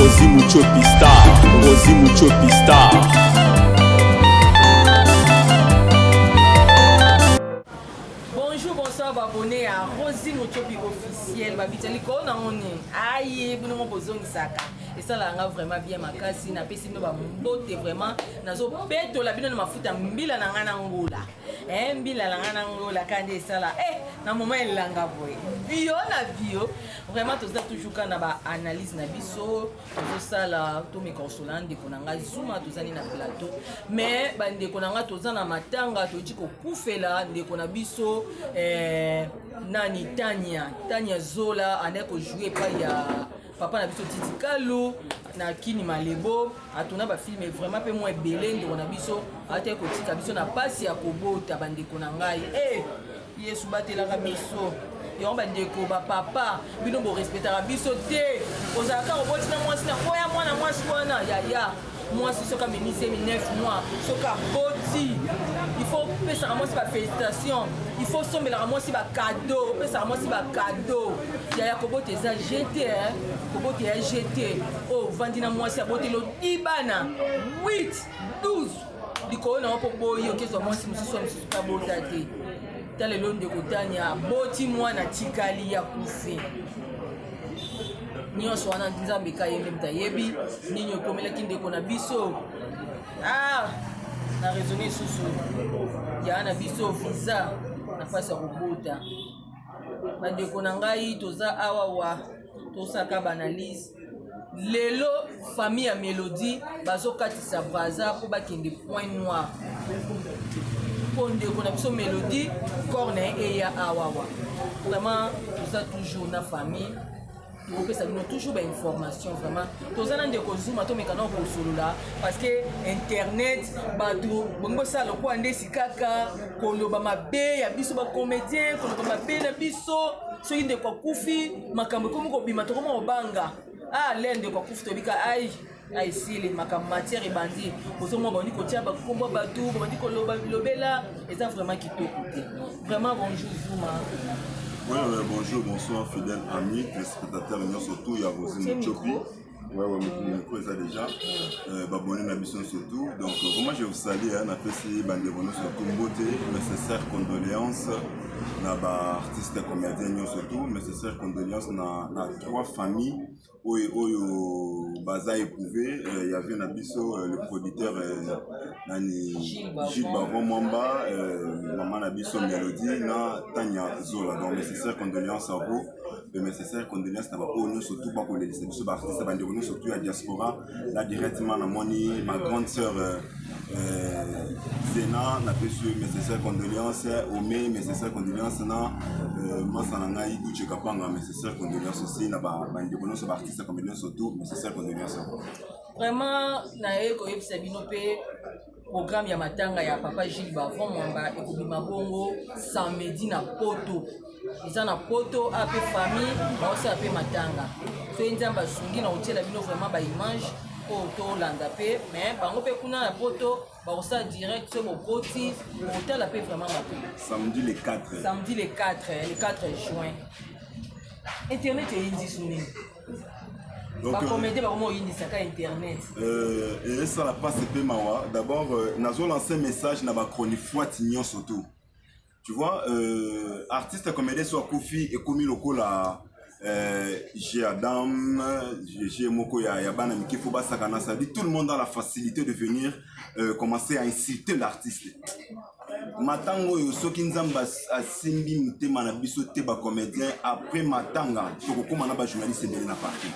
Rosi Muchopi Star, Rosi Muchopi Star. Bonjour, bonsoir, abonné ya Rosi Muchopi officiel. Babita likolo na ngoni. Aye, bino mo bozongisaka. esalaka nga vraiment bien makasi napesi bino bambote vraiment nazobetola bino na mafuta mbila na ngai na ngola eh mbila langa na ngo la kande esala eh na moment elanga boye bio na bio vraiment toza toujours ka na ba analyse na biso tozosala to mikonsola ndeko na ngai zuma tozali na plateau mais bandeko na ngai toza na matanga toyeti kokufela ndeko na biso eh, nani tania tania zola ane kojoue epai ya papa na biso titi kalu na kini malebo atona bafilme vraiment mpe mwa ebele ndeko na biso ataki kotika biso na mpasi ya kobota bandeko na ngai e eh, yesu batelaka biso yango bandeko bapapa bino borespetaka biso te ozalaka oboti na mwasi na oya mwana mwasi wana yaya mwasi soki amemi zemi 9 mois soki aboti ifo opesaka mwasi bafélicitation ifo osombelaka mwasi bakado opesaka mwasi bakado yaya kobota eza jete kobota ya jete oyo oh, ovandi na mwasi aboteli odibana 8 12 likolo na yo mpo boyi okezwa mwasi mosusu ya mosusu kabota te ta lelo ndeko tania aboti mwana tikali ya kufi nyonso wana nzambe ka ye nde moto ayebi nini okomelaki ndeko na biso ah, na raisonne lisusu yaa na biso visa na mpasi ya kobota bandeko na ngai toza awa wa tosaka baanalyse lelo famille ya melodie bazokatisa braza mpo bakende point noir mpo ndeko na biso melodie corps na ye eya awawa vraiment toza toujours na famille tokopesa bino toujours bainformation vraiment toza na ndeko zuma tomeka na kosolola parce que internet bato bongi bosala lokola nde sikaka koloba mabe ya biso bacomédien koloba mabe na biso soki ndeko akufi makambo ekomi kobima tokoma kobanga ah le ndeko akufi tobika ai aesili makambo matière ebandi ozomwa bandi kotia bakombo bato bandi koloba bilobela eza vraiment kitoko te vraiment bonjour zuma Ouais, ouais, bonjour, bonsoir, fidèle ami, téléspectateur, nous surtout, il y a Rosine Tchopi. Ouais, ouais, mais pour ça déjà, euh, abonné à Bisson surtout. Donc, euh, comment je vous salue, hein, on appelle si Bandérono surtout, beauté, nécessaire, condoléances. na ba artiste comedien nyonso tout mes sincères condoléances na, na trois familles oyo oyo baza éprouvé euh, ya vie na biso euh, le producteur euh, nani Gilles Bavon Mwamba euh, mama na biso Melodie na Tanya Zola donc mes sincères condoléances à vous mes sincères condoléances na baoyo nyonso tout bakolelisa biso ba artiste bandeko nyonso tout ya diaspora là directement na moni ma grande sœur euh, euh, zena napesi yo mes sincères condoléances ome mes sincères condoléances na euh, masa na ngai uche kapanga mes sincères condoléances aussi na bandeko nyonso baartiste comme nyonso tout mes sincères condoléances vraiment naye koyebisa bino mpe Programme ya matanga ya papa Gilles Bavon Mwamba ekobima bongo samedi na Poto. Eza na Poto ape famille baosala mpe matanga. Soki Nzambe asungi na kotiela bino vraiment ba image oyo tolanda mpe mais bango mpe kuna na Poto bakosala direct soki bokoti bokotala mpe vraiment mabe. Samedi le 4. Samedi le 4, le 4 juin. Internet eyinzi sunini. bakomede bakoma oyindisaka internet esala mpasi mpe mawa d'abord euh, nazolanse message na bachronifuati nyonso tout tu vois euh, artiste comédien so akufi ekomi lokola euh, j'ai adam j'ai moko ya, ya bana mike fo basakana ça dit tout le monde a la facilité de venir euh, commencer à insulter l'artiste matanga oyo soki nzambe asimbi motema na biso te bacomédien après matanga tokokóma na bajournaliste ebele na parti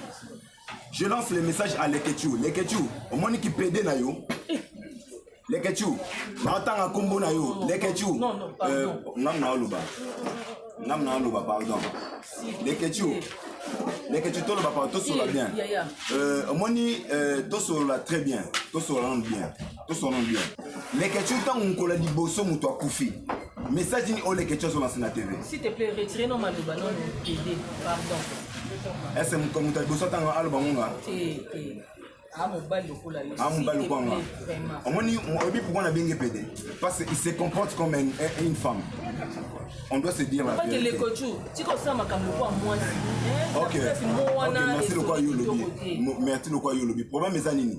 je lance le message à lekechou lekechou omoni kipede na yo lekechou naotanga nkombo na yo lekechou euh, ngai naoloba ngai naoloba pardon lekechou lekechou toloba pardon tosolola bien omoni euh, tosolola très bien tosolola nanu bien tosonoli bien leketshou ntango mokolo ya liboso moto akufi message nini oyo leketshou azolasa na tv s'il te plaît retire no maloba no tv pardon ese moto ya liboso ntango aloba ngonga amobali lokola nga omoni oyebi pourkoi nabenge pede parce qu'il se comporte comme une, une femme on doit se dire la vérité tikosala makambo lokola mwasi ok merci lokola yo olobi merci lokola yo olobi problème eza nini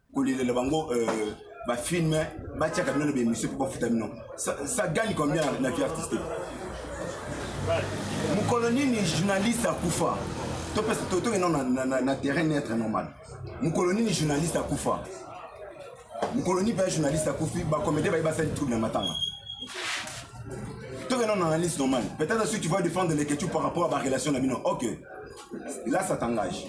kolelela bango euh, bafilme batiaka bino na baemission mpo bafuta bino ça gagne combien na vie artistique mokolo nini journaliste akufa topesa tokende na terrain neutre normal mokolo nini journaliste akufa mokolo nini mpe journaliste akufi bakomede baye basali trouble na matanga tokende na analyse normale peut-être si tu vas défendre les questions par rapport à barelation na bino ok là ça t'engage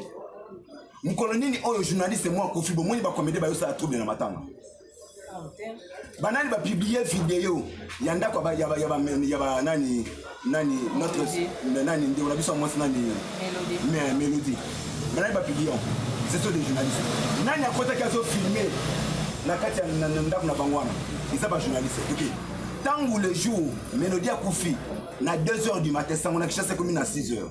mukolo nini oyo journaliste mwa kofi bomoni ba comédie bayo sala trouble na matanga banani ba publier video ya ndako ba ya ba ya ba ya ba nani nani notre nani ndeko na biso mwasi nani mais mélodie banani ba publier ce sont des journalistes nani akotaki azo filmer na kati ya ndako na bango wana eza ba journaliste toke ntango le jour mélodie akufi na 2 heures du matin sango na kishasa ekomi na 6 heures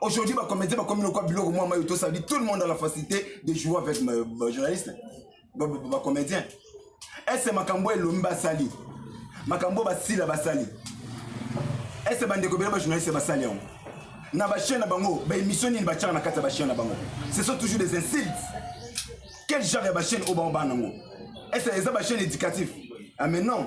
Aujourd'hui, bah, comédien, bah, comme le quoi, Bilo, moi, Mayoto, ça dit tout le monde a la facilité de jouer avec ma, ma journaliste, ma, ma, ma comédien. Est-ce que Makambo et Lomba Sali Makambo Basila Basali Est-ce que Bandeko Bela journaliste Basali Na Bachien na Bango, bah, émission ni Bachar na Kata Bachien na Bango. Ce sont toujours des insultes. Quel genre de Bachien au Bamba Nango Est-ce que les Bachien éducatif Ah, mais non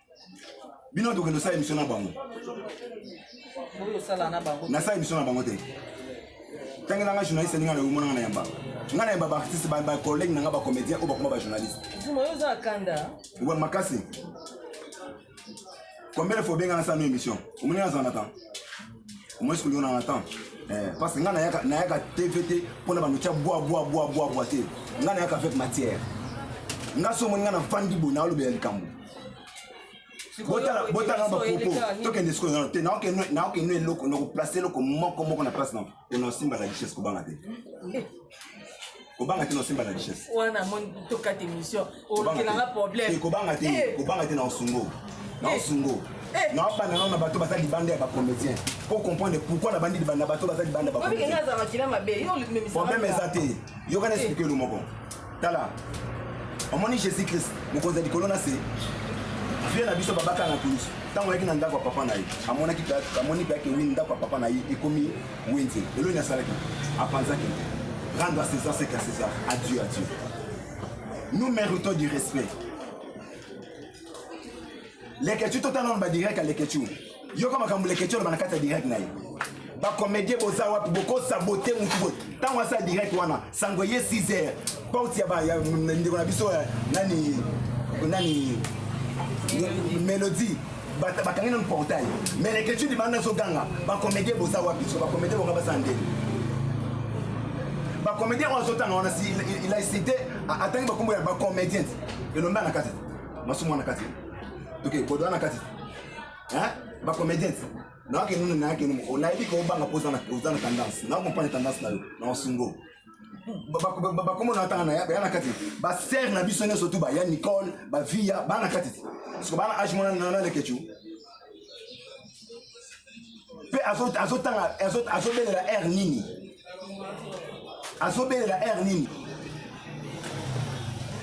bino tokende osala emission na bango nasala emission na bango te ntange nanga journaliste alinga na omonanga na yamba nga na yamba baartiste bacollègue nanga bacomédien oyo bakoma bajournaliste oba makasi combien de fois obenga nasala no émission omoni nazala na temps omoni sikolingo nanga na temps eh, parce que nga nayaka tv te mpo na banotya bwa bwa bwa bwa bwa te nga nayaka avec matière nga so omoni nga na vandi boye naolobela likambo botala bapropo tokende sikoyo nano te naokende eloko nakoplace eloko moko moko na place nango ena osimba na richesse kobanga te kobanga te na osimba na richesse wana moni tokata émission okelanga problème kobanga te eh. kobanga te na osungo na eh. osungo eh. naopanda nao na bato baza libanda ya bacomédien po comprendre pourquoi nabandi libanda bato baza libanda baproblème eza te yokana esplike elo moko tala omoni jésus christ mokonzi ya likolo na se vie na biso babaka na kulusu ntango ayaki na ndako ya papa na ye amonaki amoni biake wi ndako ya papa na ye ekomi wenze lelo nini asalaki apanzaki rendre à césar ce qu'à césar à dieu à dieu nous méritons du respect Leketshou to tala ba direct ya Leketshou. Yoka makambo Leketshou aloba na kati ya direct na ye. Ba comédien boza wapi boko saboter mutu boye. Tango asa direct wana sango ye 6 heures. Porte ya ba ya ndeko na biso ya nani nani Melodie bakangi nanu portail mais Leketshou libanda azoganga ba comédien boza wapi so ba comédien bonga baza ndenge ba comédien oyo azotanga wana si il a cité atangi bakombo ya ba comédien elombe na kati masumu wana kati toke bodo wana kati ba comediens nayaki nunu nayaki nunu onayebi ke obanga mpo oza na tendance nakompane tendance na yo na osungo bakomo na ntanga baya na kati basere na biso nyonso tu baya nicole bavia baa na kati te siko baa na age mwana na lekecu mpe azotanga azobelela aire nini azobelela aire nini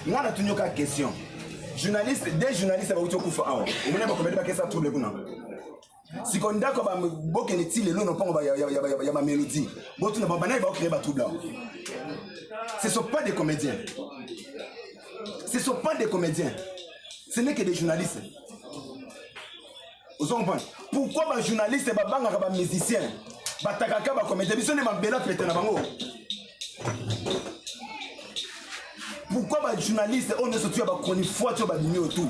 nga natuni yoka question journaliste de journaliste bakuti okufa awa omoni bakomeli bakesa trouble kuna siko ndako bokende ti lelo na mpongo ya bamelodie botuna babanaye baokreye batrouble awa ce sont pas des comédiens ce sont pas des comédiens ce n'est que des journalistes ozo comprendre pourquoi ba journaliste babangaka ba musicien batakaka bakomete biso nde mabela pete na bango pourquoi ba journaliste oyo nyonso tuya bachronifoit oyo babimi oyo tu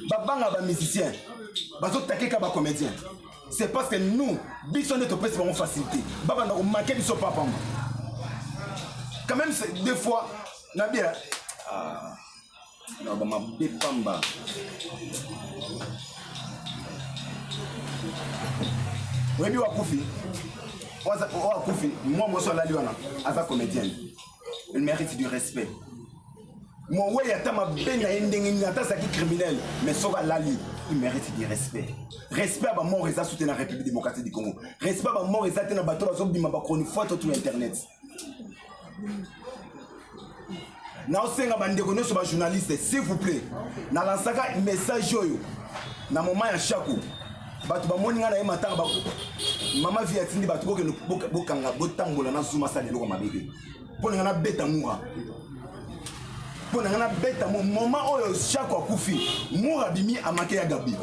babanga ba musicien bazotakeka bacomédien c'est parce que nous biso nde topesi bango facilité babanda komake biso papamba quand même des fois na bien ah. maloba mabe pamba oyebi wakufi oyo akufi mwa moso alali wana aza comédienne il mérite du respect mowei ata mabe na ye ndenge nini ata azalaki criminel mais soki alali il mérite du respect respect ya bamort eza sute na république démocratique du congo respect ya bamort eza te na bato bazobima bachronifoite otu internet naosenga bandeko nyonso bajournaliste s'il vous plaît nalansaka message oyo na moma ya shako bato bamoni ngai na ye matanga bako mama vi atindi bato bokende bokanga botambola na zuma asala eloko mabe te mpo na ngai nabeta mura mpo na ngai nabeta mo moma oyo shako akufi mura bimi amake ya gabi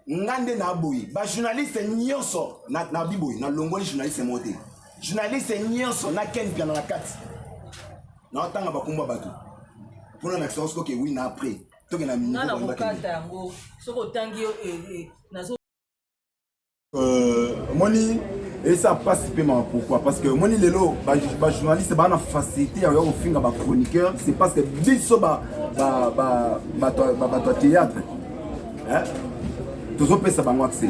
nga nde naboyi bajournaliste nyonso nabiboyi na nalongoli journaliste moko te journaliste nyonso na ken piana na kati naotanga bakombo bato mpona na kisoko soki wi na après tokenda na kokata yango soki otangi eh, eh, Euh, omoni esa mpasi mpe mawa pourquoi parce que omoni lelo bajournaliste baa na facilité ya koya kofinga bachroniqueur c'est parce que biso bato ya théâtre tozopesa bango accès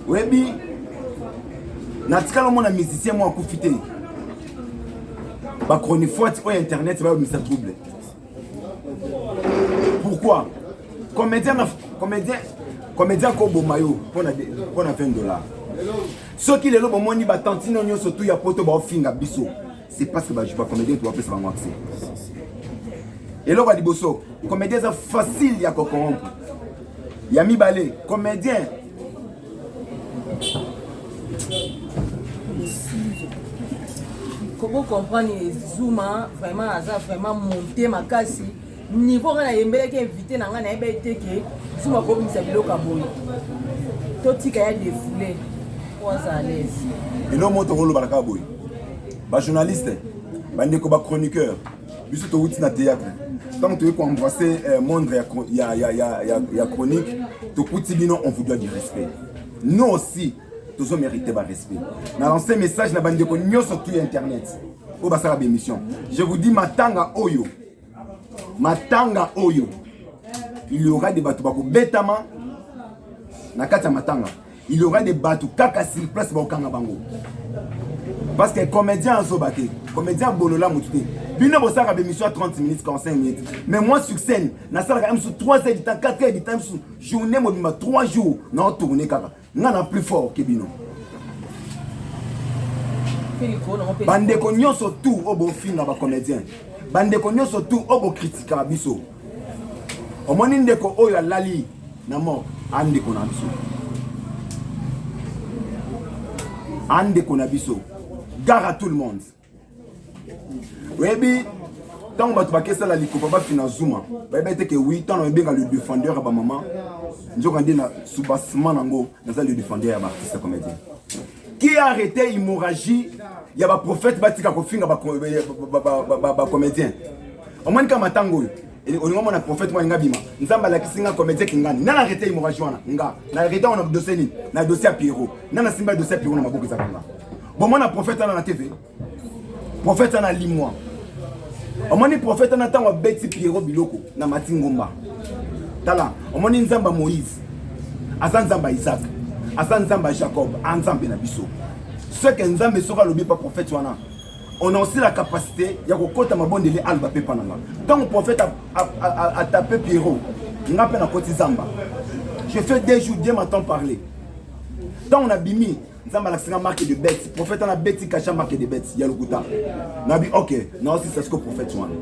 oyebi natikala omona musicien moko akufi te bachronifuati oyo internet bayobimisa trouble pourquoi comédien na comédien comédien koboma yo mpo na 20 dollars soki lelo bomoni batantino nyonso tu ya poto baofinga biso c'est parce que bacomédien tobapesa bango accès eloko ya liboso comédien eza facile ya kocorrompre ya mibale comédien koko comprendre zuma vraiment aza vraiment monte makasi niveau ngai nayembelaki invité na ngai nayebi ete ke zuma kobimisa biloko ya boye totika ya defoule po aza alaise elo moto koloba na kaka boye bajournaliste bandeko bachroniqueur biso towuti na théâtre ntango toyei koembrasse eh, mondre ya, ya, ya, ya, ya, ya chronique tokuti bino on vous doit du respect nous aussi tozo mérite barespect na lance message na bandeko nyonso tu internet oyo basala bémission je vous dis matanga oyo matanga oyo il y aura de bato bakobetama na kati ya matanga il y aura des bateaux kaka sur place bakokanga bango parce que comédien azoba te comédien abolola motu te bino bosalaka bémission ya 30 minutes 45 minutes mais moi sur scène nasalaka mosusu 3 heures du temps 4 heures du temps mosusu journée mobimba 3 jours nao tourne kaka nga na plus fort ke bino bandeko nyonso tour oyo bofinga bacomédien bandeko nyonso tour oyo bokritikaka biso omoni ndeko oyo alali na mort andeko na biso andeko na biso gare à tout le monde oyebi ntango bato bakesala likopa bafina zuma bayebi ete ke wi ntango nabenga le défendeur ya bamama nzoka nde na soubassement nango naza le défendeur ya baartiste comédien qui a arrêté hemorragie ya baprofete batika kofinga bacomédien omoni kaka matango oyo olinga mona prophète mwa nga bima nzambe alakisi nga comédien kingani nana arrete hemorragie wana nga na arrete wana dossier nini na dossier ya pierrot nana simba dossier ya pierrot na maboko ezaka nga bomona prophète wana na tv Prophète ana limwa. Omoni prophète ana tango abeti Pierrot biloko na Mati Ngomba. Tala, omoni Nzamba Moïse. Aza Nzamba Isaac. Aza Nzamba Jacob, a Nzambe na biso. Ce que Nzambe soka lobi pa prophète wana. On a aussi la capacité ya kokota mabondeli alba pepa na nga. Tango prophète a, a, a, a tape Pierrot, nga pe na koti Zamba. Je fais deux jours, Dieu m'entend parler. Tant on a bimi, nzambe alakisi nga marke de bete profete wana beti kasha marke de bete ya lokuta nabi ok naosisa siko profete wana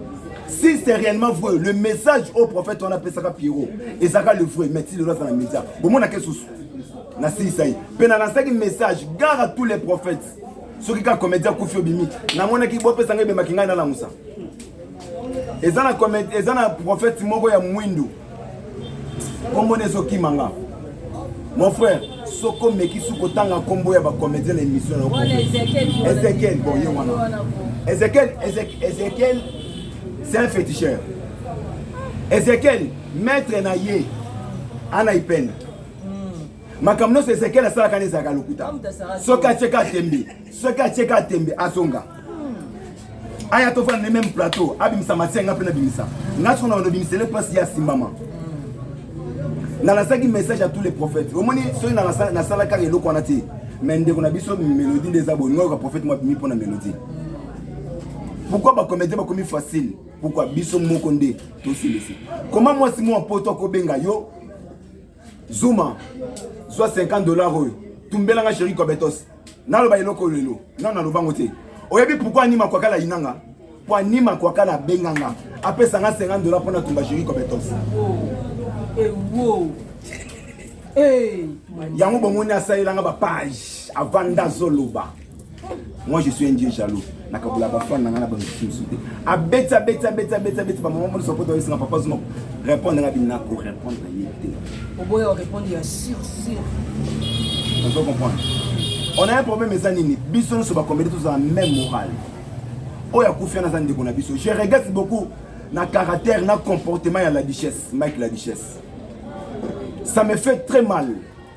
si c'est réellement vrai le message au prophète wana apesaka pierrot ezalaka le vrai mais ti lelo aza na média bomonaka esusu nasilisa ye mpe na lansaki message gare à tous les prophètes soki kaka comédien akufi obimi namonaki bopesanga ebemaki ngai nalamusa eza na prophète moko ya mwindu kombo na ezokima nga mon frère soko omekisi kotanga nkombo ya bacomédien na émission na ezekiel bon ye wana ezekiel ezekiel c'est un féticheur ezekiel maître na ye ana ipene hmm. makambo nyonso ezekiel asalaka na ezalaka lokuta soki atyeka atembi soki atie ka tembe azonga aya tofanda ne meme plateau abimisa masia nga mpe nabimisa nga soko na bando bimisele mpasi ya simbama nalasaki message ya tous les prophètes omoni soki nasalaka eloko wana te me ndeko na biso melodi nde eza boye ngoyoka prophète mwa bimi mpo na melodi pourkui bacomédien bakomi facile pourkui biso moko nde tosilisi koma mwasi mwa poto akobenga yo Zuma, zwa 50 dollars oyo. Tumbela nga chéri Kobetos. Naloba eloko lelo. Non naloba ngo te. Oyebi pourquoi anima kwa kala inanga? Po anima kwa kala benganga. Apesa nga 50 dollars pona tumba chéri Kobetos. Eh wow. Eh. Yango bomoni asalelanga ba page avanda zoloba. moi je suis un dieu jaloux nakabula bafane na ngai na bamisusu mosusu te abeti abeti abeti abeti abeti bamama moni soko toyesanga papa zuma répondre ngai bina korépondre na ye te oboya orépondre ya sur sur ozo comprendre on a un problème eza nini biso nyonso bakomedi tozala même morale oyo akufi wana aza ndeko na biso je regrette beaucoup na caractère na comportement ya la duchesse mike la duchesse ça me fait très mal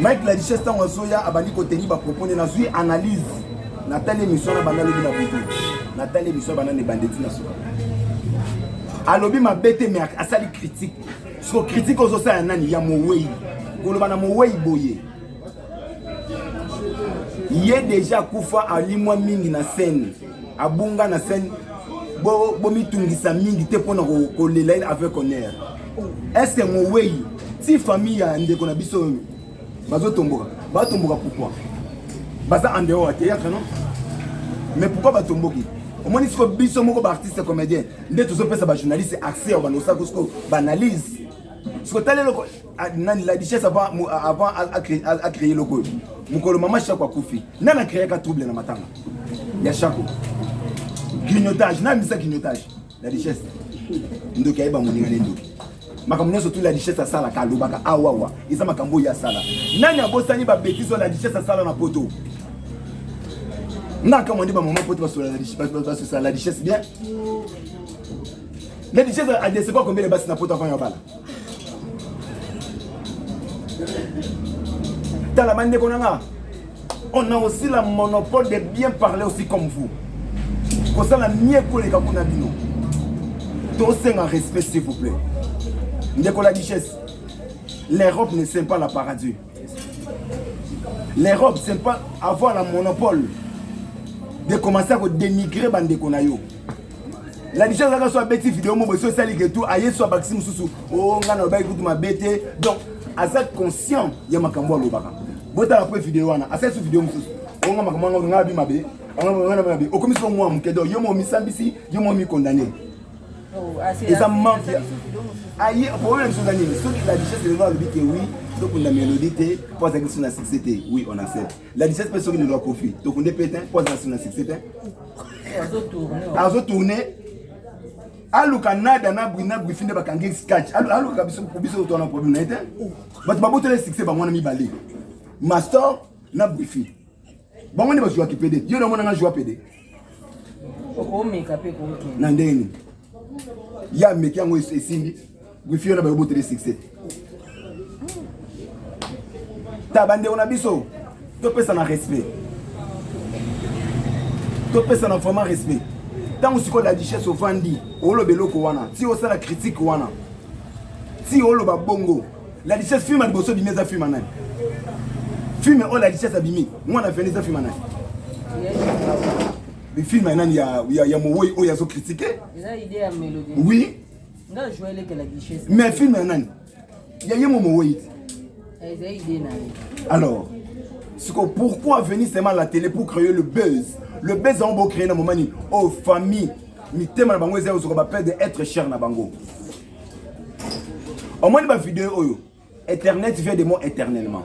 Mike la richesse ntango azoya abandi koteni bapropos nde nazwi analyse natali émission na banda lobi na butu natali émission banda na ebandeti na suka alobi mabe te me asali critique soko critique ozosala ya nani ya mowei koloba na mowei boye ye deja akufa alimwa mingi na scène abunga na scène bo bomitungisa mingi te mpona kolela ye avec honneur est ce que mowei ti famille ya ndeko na biso oyo bazotomboka batomboka pourquoi baza en dehors ya théâtre non mais pourquoi batomboki omoni siko biso moko baartiste comédien nde tozopesa bajournaliste accès ya bandosako siko baanalyse siko tala eloko Ah, nani la richesse avant avant a créer a créer logo mukolo mama shako akufi nani a créer ka trouble na matanga ya shako grignotage nani misa grignotage la richesse ndoki ayeba moninga ne ndoki makambo nyonso tu la richesse asalaka alobaka awawa eza makambo oyo asala nani abosani babetise oyo la richesse asala na poto nga akamwa nde bamama poto basosala la richesse bien Lady Jazz a décevoir combien de basi na poto avant ya bala tala bandeko na nga on a aussi la monopole de bien parler aussi comme vous kosala mie koleka kuna bino tosenga respect s'il vous plaît ndeko la duchesse l'europe ne sème pas la paradis L'Europe c'est pas avoir un monopole de commencer à dénigrer bandeko na yo la biso azalaka so abeti video moko esi osaliki etu aye so abakisi mosusu o oh, ngai nalobaki kutu mabe te donc aza conscient ya makambo alobaka botala mpe video wana asali so video mosusu onga oh, makambo yango ngai abi mabe okomisi yo mwa moke donc yo mo omisambisi yo mo omikondane eza manque aye problème biso eza nini soki la richesse lelo alobi te oui tokunda mélodie te mpo azalaki biso na succès te oui on accepte la richesse mpe soki lelo akofi tokunde mpe te mpo azala biso na succès te azotourne aluka nada na bwina bwifi nde bakangi skach alukaka biso biso twana problème na ye te bato babotela succès bango wana mibale mastor na bwifi bango nde bazuwaki pede yo namonanga zuwa pede okomeka mpe kokende na ndenge nini ye ameki yango esimbi wifi yo na bayo botele succès ta bandeko na biso topesana respect topesana vraiment respect ntango sikoyo la duchesse ovandi oloba eloko wana ti osala critique wana ti oloba bongo La richesse film liboso bimi eza film nani? Film oyo la richesse abimi, mwana vene eza film nani? Ni film nani ya ya, ya mowoi oyo azo critiquer? Eza idée ya melodie. Oui. Nga joie leke la richesse. Mais film ya nani? Ya ye mo mowoi. Eza idée na ye. Alors, siko pourquoi venir seulement à la télé pour créer le buzz? Le buzz on va créer na moment ni oh famille mitema na bango eza ozoka ba père de être cher na bango. omoni ba video oyo Internet vient de moi éternellement.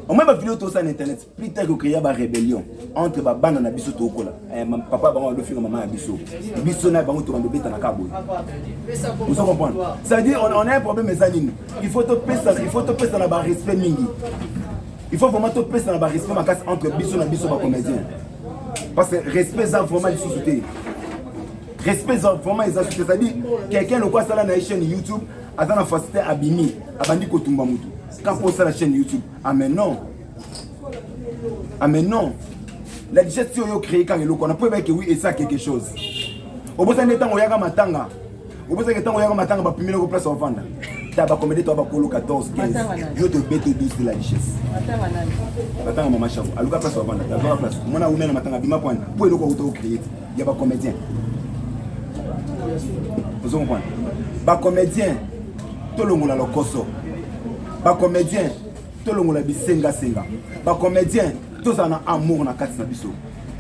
On m'a vu tout ça sur internet. Plus tard que créer une rébellion entre ma bande et biso tokola. Eh papa bango do finga maman biso. Biso na bango to bando beta na kabo. Vous comprenez Ça veut dire on, on a un problème mais anine. Il faut te pèse il faut te pèse na ba respect mingi. Il faut vraiment te pèse na ba respect ma casse entre biso na biso ba comédien. Parce que respect ça vraiment les sociétés. respect eza vraiment eza suki c'est-à-dire quelqu'un loko asala na ye chaîne youtube aza na facilité abimi abandi kotumba motu quand po osala chaîne youtube ah mais non ah mais non la digeste oyo créé kaka eloko wana po ebaki oui esa quelque chose obosani nde ntango oyaka matanga obosaki ntango oyaka matanga bapimeli ko place ovanda ta bakomede to bakolo 14 15 yo tobete 12 de la richesse batanga mama shavo aluka place ovanda tazwaka place mwana aumela matanga bima kwana po eloko auta ocreye te ya ba comédien ozo comprendre ba comédien tolongola lokoso ba comédien tolongola bisengasenga ba comédien tozala na amour na kati na biso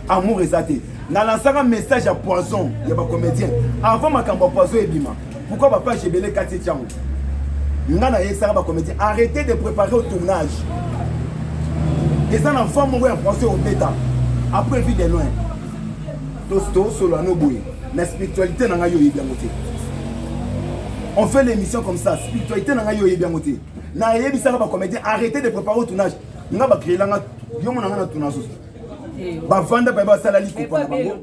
amour eza te nalansaka message ya poison ya ba comédien avant makambo ya poison ebima pourquoi bapage ebele kati etiango nga nayebisaka bacomédien arrêtez de préparer au tournage eza na voix moko ya français obeta après vie de loin tosolola no boye na spiritualité na ngai oyebi yango te on fait l'émission comme ça spiritualité na ngai oyebi yango te nayebisaka bacomédien arrêtez de préparer au tournage nga bacréela nga yo mona nga na tournage osu eh, bavanda baye basala likopa na bango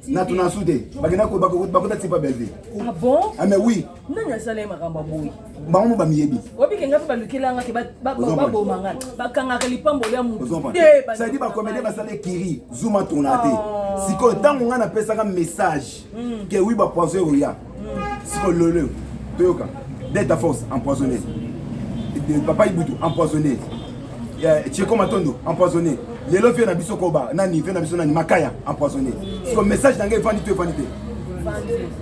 na tournage te bakenda bakota tipa bellevue ah, ah mais oui nani asala ye makambo ya boye bango mo bamiyebi obike ngai mpe balukelanga te baboma ngai bakangaka lipamboli ya mutosadi bakomede basala ekiri zuma tourna te oh. sikoyo ntango ngai napesaka message hmm. ke wi bapoison ekoya hmm. sikoyo loleo toyoka delta force empoisonné papa ibutu empoisonné cheko matondo empoisonné lelo vie na biso koba nani vie na biso nani makaya empoisonné sikoyo message na ngai efandi to efandi te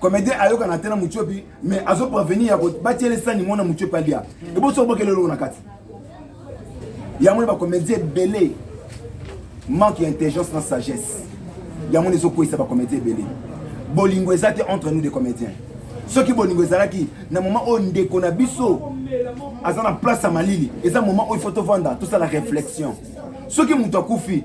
comedien ayokana te na mutiopi mais azo prevenir ya batiele sani mona mutiopi alia eboso obokele eloko na kati yango na bacomédien ebele manque ya intelligence na sagesse yango na ezokweyisa bacomédien ebele bolingo eza te entre nous des comédiens soki bolingo ezalaki na moment oyo ndeko na biso aza na place ya malili eza moment oyo ifo tovanda tosala réflexion soki moto akufi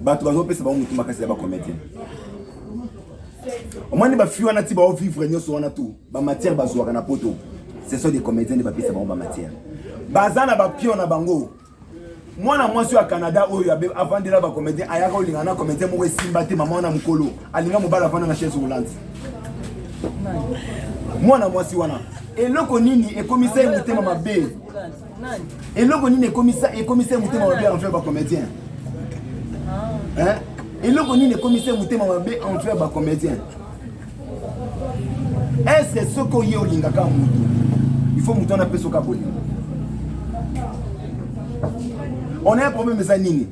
bato bazopesa bango motu makasi ya bacomédien omoni bafi wana ti baovivre nyonso wana tu bamatière bazwaka na poto ce sont des comédien nde bapesa bango bamatière baza na bapio na bango mwana mwasi ya canada oyo avandela bacomédien ayaka olinga na comédien moko esimba te mama wana mokolo alinga mobali avanda na chaise roulante mwana mwasi wana eloko nini ekomisa ye motema mabe eloko nini ekomisa ekomisa ye motema mabe envers bacomédien ah. eloko nini ekomisa ye motema mabe envers bacomédien estce soki oye olingaka motu il faut motu wana mpe soki abolinga on a un problème eza nini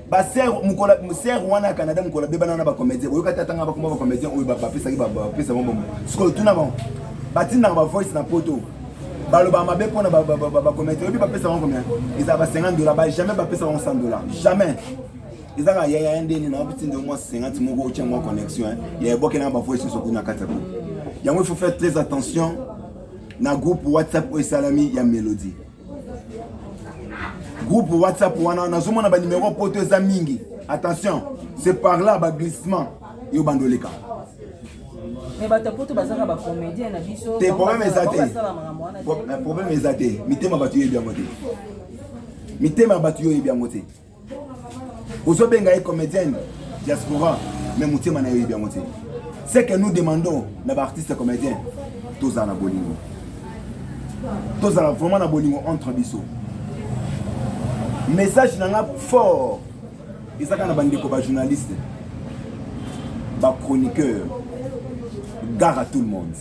ba sœur mukola sœur wana ya Canada mukola bebana na ba comédien boyoka tata nga bakoma ba comédien oyo bapesaki bapesa bango bongo sikoyo tuna bango batindaka ba voice na poto baloba mabe mpo na bacomédien oyebi bapesa bango combien eza ba 50 dollar ba jamais bapesa bango 100 dollar jamais ezaka yaya ndeni na bapesi nde mwa 50 moko otya mwa connexion ya ebokela na ba voice nyonso kuna kati ya groupe yango il faut faire très attention na groupe whatsapp oyo esalami ya mélodie groupe whatsapp wana nazomona banimero poto eza mingi attention c'est par là baglissement yo bando oleka te problème eza te problème eza te mitema bato yoyebi yango te mitema ya bato yoyebi yango te ozobenga ye comédienne diaspora me motema na yo yebi yango te ce que nous demandons na baartiste comédien tozala na bolingo tozala vraiment na bolingo entre biso message na nga fort eza kaka na bandeko bajournaliste bachroniqueur gare à tout le monde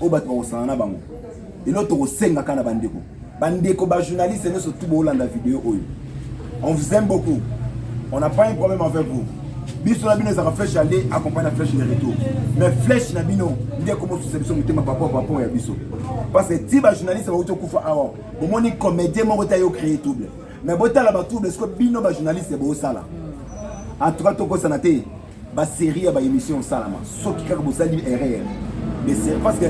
oyo bato bakosana na bango lelo tokosengaka na bandeko bandeko bajournaliste nyonso tu boolanda video oyo on vous aime beaucoup on n'a pas un problème avec vous biso na bino ezalaka flèche aller accompagne na flèche de retour mais flèche na bino nde komosusa biso motema papa papa ya biso parce que ti bajournaliste bauti okufa awa bomoni comédien moko te ayo créer trouble mais botala batrouble siko bino bajournaliste bosala en tout cas tokosana te Ba serie ya ba emission osalama soki kaka bosali erreur de serie parce que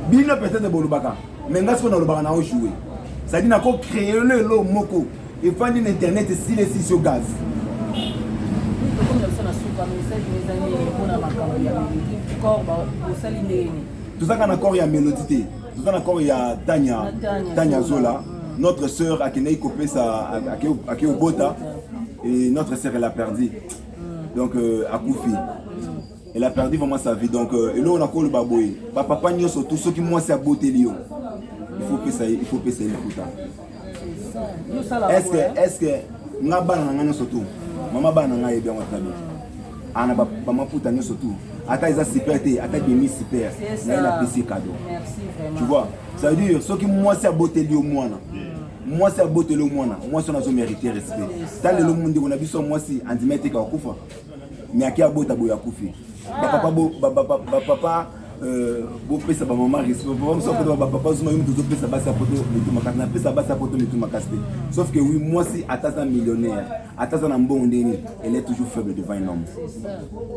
bino peut-être bolobaka mais nga siko nalobaka na ojoue cest na ko créer lelo moko efandi na internet esili esisi yo gaz tozaka na corps ya mélodie te toza na corps ya tanya tanya zola notre sœur akendaki kopesa akei obota Et notre sœur, elle a perdu. Donc, euh, à Koufi. Elle a perdu vraiment sa vie. Donc, euh, et là, on a collé Baboy. Bah, papa, nous sommes tous ceux qui m'ont à beauté. Il faut que ça, il faut que ça, il faut ça. Est-ce que, est-ce que, nga bana nga nyoso tu mama bana nga yebi yango tabi ana ba mama puta nyoso tu ata eza super te ata demi super na ina pesi cadeau tu vois ça veut dire soki mwasi aboteli yo mwana mwasi aboteli yo mwana mwasi wana azomerite respect ta lelo ndeko na biso ya mwasi andima eteka akufa me ake abota boye akufi bapapa bapapa euh, bopesa bamama respect mosusu akota bapapa zuma yo moto ozopesa basi ya poto mitu makasi napesa basi ya poto mitu makasi te sauf que wi mwasi ata aza millionnaire ata aza na mbongo nde nini elle est toujours faible devant un homme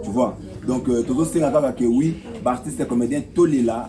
tu vois donc euh, tozosenga kaka ke wi baartiste comédien tolela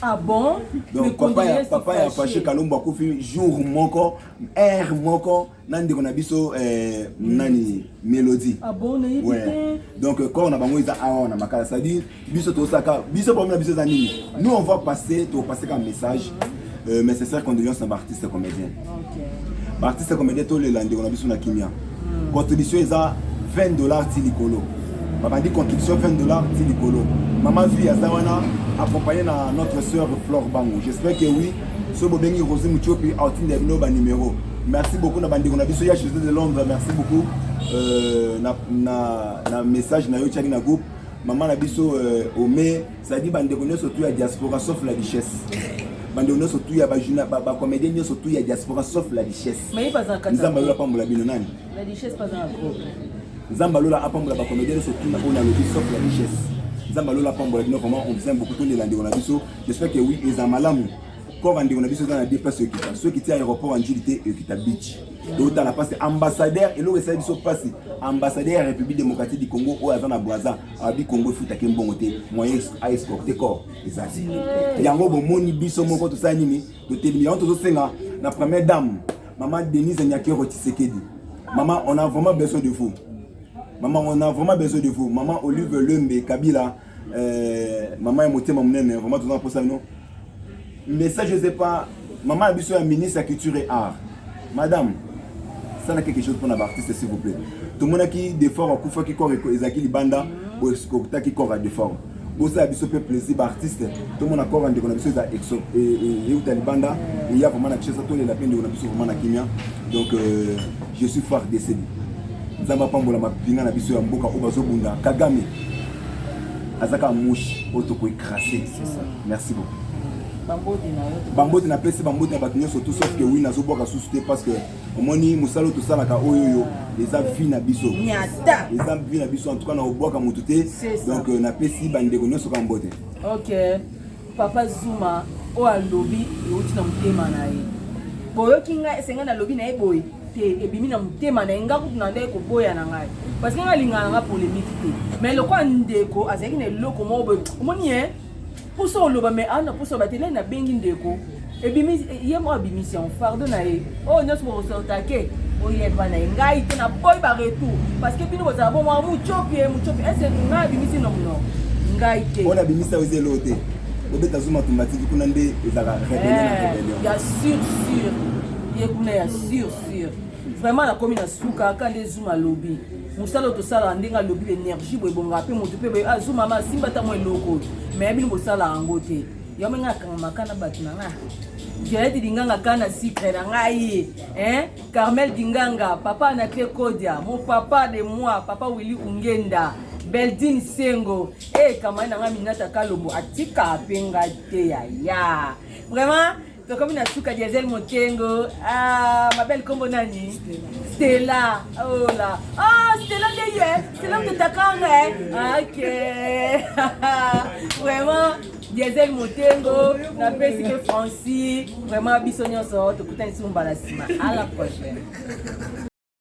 Ah bon? Donc papa ya papa ya Fache Kalombo akufi jour moko heure moko na ndeko na biso eh, mm. nani Melody. Ah bon na yebi ouais. te. Donc euh, corps na bango eza awa na makala ça dit biso to saka biso problème na biso za nini? Nous on va passer to passer comme message. Mm. Euh, mais c'est ça condoléances na ba artistes comédiens. ba artiste comédien tolela ndeko na biso na kimia hmm. contribution eza 20 dollars ti likolo babandi contribution 20 dollars ti likolo mama zui aza wana accompagné na notre sœur flore bango j'espère que oui soki bobengi rosi mutiopi aotinda bino banimero merci beaucoup na bandeko na biso ya josé de londres merci beaucoup euh, na, na, na message na yo tiaki na groupe mama na biso euh, ome cetadire bandeko nyonso tu ya diaspora sauf la richesse bandeko nyonso tu ya bacomédien nyonso tu ya diaspora sauf la richesse nzambe alola apambola bino nani nzambe alola apambola bacomédien nyonso tu oyo nalobi sauf la richesse nzambe alola apambola bino vraiment on vous aime beaucoup tolela ndeko na biso j'espère que oui eza malamu corps ya ndeko na biso eza na deux place ekita soki ti aéroport ya njili te ekita beach totala mpasi ambassadeur eloko esali biso mpasi ambassadeur ya république démocratique du congo oyo aza na bwaza abi congo efutaki mbongo te moyen aescorte corps eza te yango bomoni biso moko tosala nini totelemi yango tozosenga na première dame mama denise nyakero tshisekedi mama on a vraiment besoin de vous mama on a vraiment besoin de vous mama olive lembe kabila Euh, maman ya motema monene vraiment toza na posa bino message ose pa maman ya biso ya ministre ya culture et art madame sala quelque chose mpona baartiste s'il vous plaît tomonaki defort akufaki corps ezalaki libanda boekotaki corps ya defort bosala biso mpe plaisir baartiste tomona corps ya ndeko na biso eza e, e, euta libanda eya vraiment na kishasa tolela mpe ndeko na biso vraiment na kimia donc euh, je suis far desedi nzambe apambola mapinga na biso ya mboka oyo bazobunda kagame aza kaka mushi oyo tokoki crasse merci beaucoup bambote napesi bambote na bato nyonso tout sauf que wi nazobwaka susu te parce que omoni mosala oyo tosalaka oyo oyo eza vi na biso eza vi na biso en tout cas na obwaka motu te donc euh, napesi bandeko nyonso kaka mbote okay. Papa Zuma oyo alobi euti na motema na ye. Boyoki ngai ese ngai nalobi na ye boye te ebimi na motema na ye ngai kutu na ndai koboya na ngai parce que ngai alingaka na ngai polemiki te mais lokola ndeko azalaki na eloko moko boye omoni ye mposa oloba mais awa na mposa oloba te nani nabengi ndeko ebimi ye moko abimisi yango fardo na ye oyo oh, nyonso bokosortake oyeba na ye ngai te na boyi ba retour parce que bino bozala bomwa mucopi ye mucopi ese ngai abimisi nomno ngai te oyo nabimisa yo zelo te obeta zuma tumbativi kuna nde ezalaka rebellion na eh, rebellion ya sur sur ye kuna ya sur sur vraiment nakomi na suka kaka nde zuma alobi mosala oyo tosalaka ndenge alobi energie boye ebongaka mpe moto mpe azumama asimba ntango eloko me ya bino bosalaka yango te yo menge akangamaka na bato na nga violete dinganga ka na sucre na ngai eh? carmel dinganga papa na cle kodia mon papa de moi papa willi ungenda beldine sengo e eh, kamani na ngai minata kalombo atika mpe ngai te yaya vraiment tokomi na suka diesel mokengo ah, mabel kombo nani stela ola oh ah, stela nde ye stela mtotakanga e eh? ok vraiment diesel motengo napesi mpe franci vraiment biso nyonso tokutani sumu mbala nsima à la prochaine